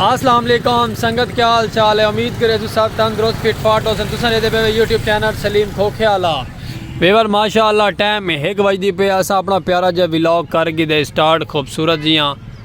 السلام علیکم سنگت کیا حال چال ہے امید کرے تو سب تندرست فٹ فاٹ ہو سن تساں دے پے یوٹیوب چینل سلیم کھوکھے والا ویور ماشاءاللہ ٹائم ایک بج دی پے اسا اپنا پیارا جے ولاگ کر گی دے سٹارٹ خوبصورت جیاں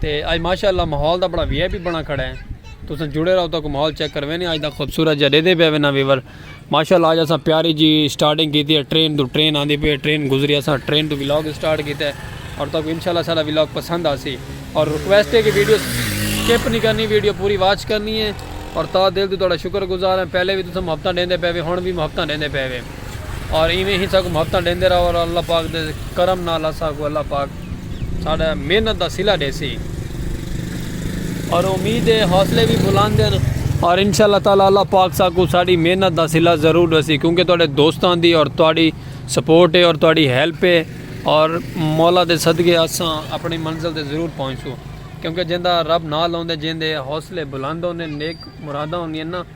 تے اج ماشاء اللہ ماحول دا بڑا وی آئی پی بنا کھڑا ہے تساں جڑے رہو تاکو ماحول چیک کروینے اج دا خوبصورت جا ڈیدے پیا وینا ویور ماشاء اللہ اج اساں پیاری جی سٹارٹنگ کیتی ہے ٹرین تو ٹرین آندی پی ٹرین گزری اساں ٹرین تو ولاگ سٹارٹ کیتا ہے اور تاکو انشاءاللہ سارا ولاگ پسند آسی اور ریکویسٹ ہے کہ ویڈیو سکپ نہیں کرنی ویڈیو پوری واچ کرنی ہے اور تا دل تو تہاڈا شکر گزار ہیں پہلے بھی تساں محبتاں ڈیندے پے وے ہن بھی محبتاں ڈیندے پے وے اور ایویں ہی ساکوں محبتاں ڈیندے رہو اور اللہ پاک دے کرم نال اساں کو اللہ پاک ساڈا محنت دا صلہ ڈیسی اور امید ہے حوصلے بھی بلند ہیں اور انشاءاللہ تعالی اللہ پاک ساکوں ساڈی محنت دا صلہ ضرور ڈیسی کیونکہ تہاڈے دوستاں دی اور تہاڈی سپورٹ ہے اور تہاڈی ہیلپ ہے اور مولا دے صدقے اساں اپنی منزل تے ضرور پہنچوں کیونکہ جیندا رب نال ہوندے جیندے حوصلے بلند ہوندے نیک مراداں ہوندیاں نا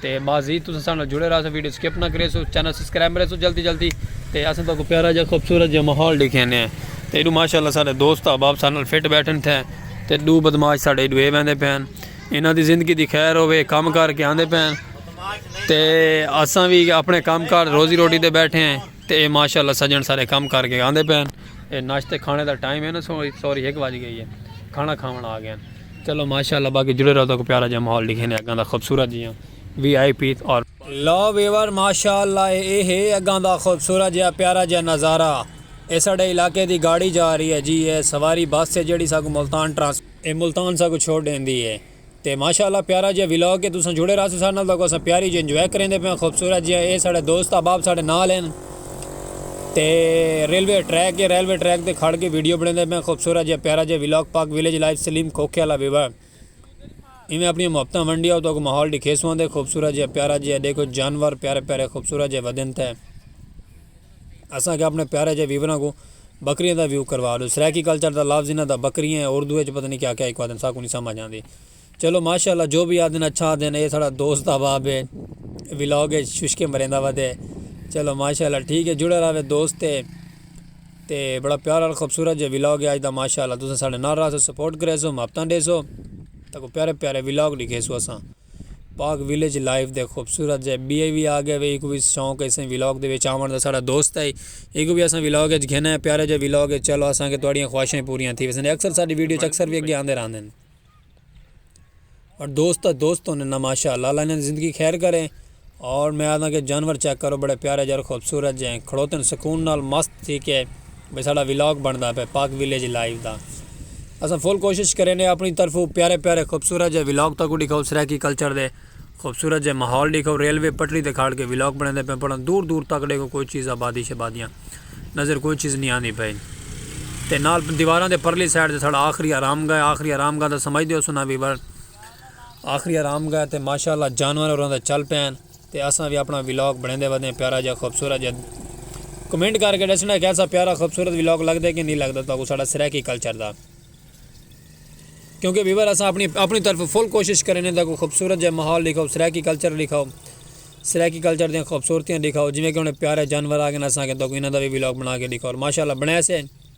تے بس جی تساں ساڈے نال جڑے رہسو ویڈیو سکپ نہ کریسو چینل سبسکرائب کریسو جلدی جلدی تے اساں تہاکوں پیارا جا خوبصورت جا ماحول ڈکھینے ہیں تے ایڈو ماشاءاللہ ساڈے دوست احباب ساڈے نال فٹ بیٹھن تھے تے دو بدماش ساڈے ایڈو اے ویندے پے ہن انہاں دی زندگی دی خیر ہووے کم کر کے آندے پے ہن تے اساں وی اپنے کم کار روزی روٹی تے بیٹھے ہیں۔ تے اے ماشاء اللہ سجن سارے کم کر کے آندے پئے ہن اے ناشتے کھانے دا ٹائم ہے نا سوری ہک وج گئی ہے کھانا کھاوݨ آ گئے ہن چلو ماشاء اللہ باقی جڑے رہو تاکو پیارا جہاں ماحول ڈکھینے اگاں دا خوبصورت جیاں وی آئی پی اور لو ویور ماشاء اللہ اے ہے اگاں دا خوبصورت جیاں پیارا جیاں نظارہ اے ساڈے علاقے دی گاڑی جا رہی ہے جی اے سواری بس ہے جیڑی ساکو ملتان ٹرانسپورٹ اے ملتان ساکو چھوڑ ڈیندی ہے۔ تے ماشاء اللہ پیارا جیہا ولاگ اے تساں جڑے رہسو ساڈے نال تاکو اساں پیاری جی انجوائے کریندے پیاں خوبصورت جیہا اے ساڈے دوست احباب ساڈے نال ہن تے ریلوے ٹریک اے ریلوے ٹریک تے کھڑ کے ویڈیو بنیندے پیاں خوبصورت جیہا پیارا جیہا ولاگ پاک ویلیج لائف سلیم کھوکھے والا ویوا ایویں اپنی محبتاں ونڈیا تو کو ماحول ڈکھیسواں دے خوبصورت جیہا پیارا جیہا دیکھو جانور پیارے پیارے خوبصورت جیہا ودن تے اساں کے اپنے پیارے جے ویوراں کوں بکریاں دا ویو کروا ڈو سرائیکی کلچر دا لفظ انہاں دا بکریاں ہے اردو اچ پتہ نی کیا کیا ہکو آدھن ساکوں نی سمجھ آندی چلو ماشاءاللہ جو وی آدھن اچھا آدھن اے ساڑا دوست احباب ہے ولاگ اچ ششکے مریندا ودے چلو ماشاءاللہ ٹھیک ہے جڑے راوے دوست ہے تے بڑا پیارا خوبصورت جے ولاگ ہے آج دا ماشاءاللہ تساں ساڑے نال راہسو سپورٹ کریسو محبتاں ڈیسو تاکو پیارے پیارے ولاگ ڈکھیسو اساں. پاک ویلیج لائف دے خوبصورت جے بی اے وی آگے وے ایکو وی شوق ہے اسیں ویلاگ دے وچ آوݨ دا ساڑا دوست ہے ایکو وی اسیں ویلاگ وچ گھن ہے پیارے جے ویلاگ ہے چلو اساں کے تواڈیاں خواہشیں پوریاں تھی ویسن اکثر ساڈی ویڈیو چ اکثر وی اگے آندے رہندے ہیں اور دوست دوست ہوندے ہیں ماشاء اللہ اللہ انہاں دی زندگی خیر کرے اور میں آدھاں کہ جانور چیک کرو بڑے پیارے جے اور خوبصورت جے ہیں کھڑوتن سکون نال مست تھی کے بھئی ساڈا ولاگ بندا پے پاک ولیج لائیو دا اساں فل کوشش کرینے اپنی طرفو پیارے پیارے خوبصورت جے ولاگ تاکوں ڈکھاؤ سرائیکی کلچر دے خوبصورت جے ماحول ڈکھاؤ ریلوے پٹری تے کھاڑ کے ولاگ بناندے پے پڑاں دور دور تک ڈیکھو کوئی چیز آبادی شبادیاں نظر کوئی چیز نی آندی پئی تے نال دیواراں دے پرلی سائیڈ تے ساڈا آخری آرام گاہ ہے آخری آرام گاہ دا سمجھ دیو سنا ویور آخری آرام گاہ تے ماشاءاللہ جانور ہوراں دا چل پئے ہن تے اساں وی اپنڑاں ولاگ بنڑیندے ودے ہیں پیارا جیہا خوبصورت جیہا کمنٹ کر کے ڈسنڑاں کہ ایسا پیارا خوبصورت ولاگ لگدے کہ نہیں لگدا تہاکوں ساڈا سرائیکی کلچر دا کیونکہ ویور اساں اپنی اپنی طرف فل کوشش کریں ہیں تہاکوں خوبصورت جیہا ماحول ڈکھاؤ سرائیکی کلچر ڈکھاؤ سرائیکی کلچر دیاں خوبصورتیاں ڈکھاؤ جویں کہ انہاں پیارے جانور آ گئے اساں کہ تہاکوں انہاں دا وی ولاگ بنا کے ڈکھاؤ ماشاءاللہ بنڑے سے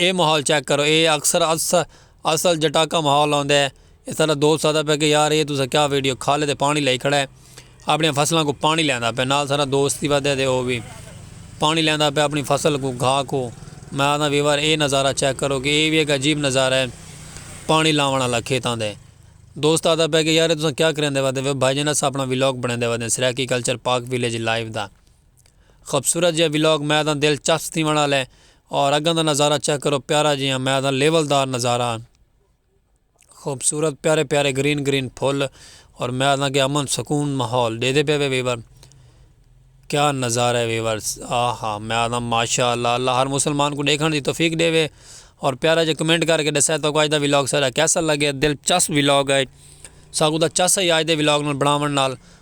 اے ماحول چیک کرو اے اکثر اصل جٹاکا ماحول ہوندے ہے۔ اے ساڈا دوست آدھا پے کہ یار اے تساں کیا ویڈیو کھالے تے پانی لائی کھڑا ہے۔ اپنی فصلاں کو پانی لیندا پے نال ساڈا دوست ہی ودے تے او وی پانی لیندا پے اپنی فصل کو گھا کو۔ میں آدھا ویور اے نظارہ چیک کرو کہ اے وی ہک عجیب نظارہ ہے پانی لاون آلا کھیتاں دے۔ دوست آدھا پے کہ یار اے تساں کیا کریندے ودے وے او بھائی جان اساں اپنا ولاگ بنیندے ودے Saraiki culture Pak village live دا۔ خوبصورت جیہا ولاگ میں تاں دل چست تھیوݨ آلا ہے اور اگاں دا نظارہ چیک کرو پیارا جیہا میں تاں لیول دار نظارہ ہن خوبصورت پیارے پیارے گرین گرین پھل اور میں تاں کہ امن سکون ماحول دے دے پے وے ویور کیا نظارہ ہے ویور آہا میں تاں ماشاء اللہ اللہ ہر مسلمان کو دیکھن دی توفیق دے وے اور پیارا جی کمنٹ کر کے دسے تو آج دا ولاگ سارا کیسا لگے دل چس ولاگ ہے ساگو دا چس ہے آج دے ولاگ نال بناون نال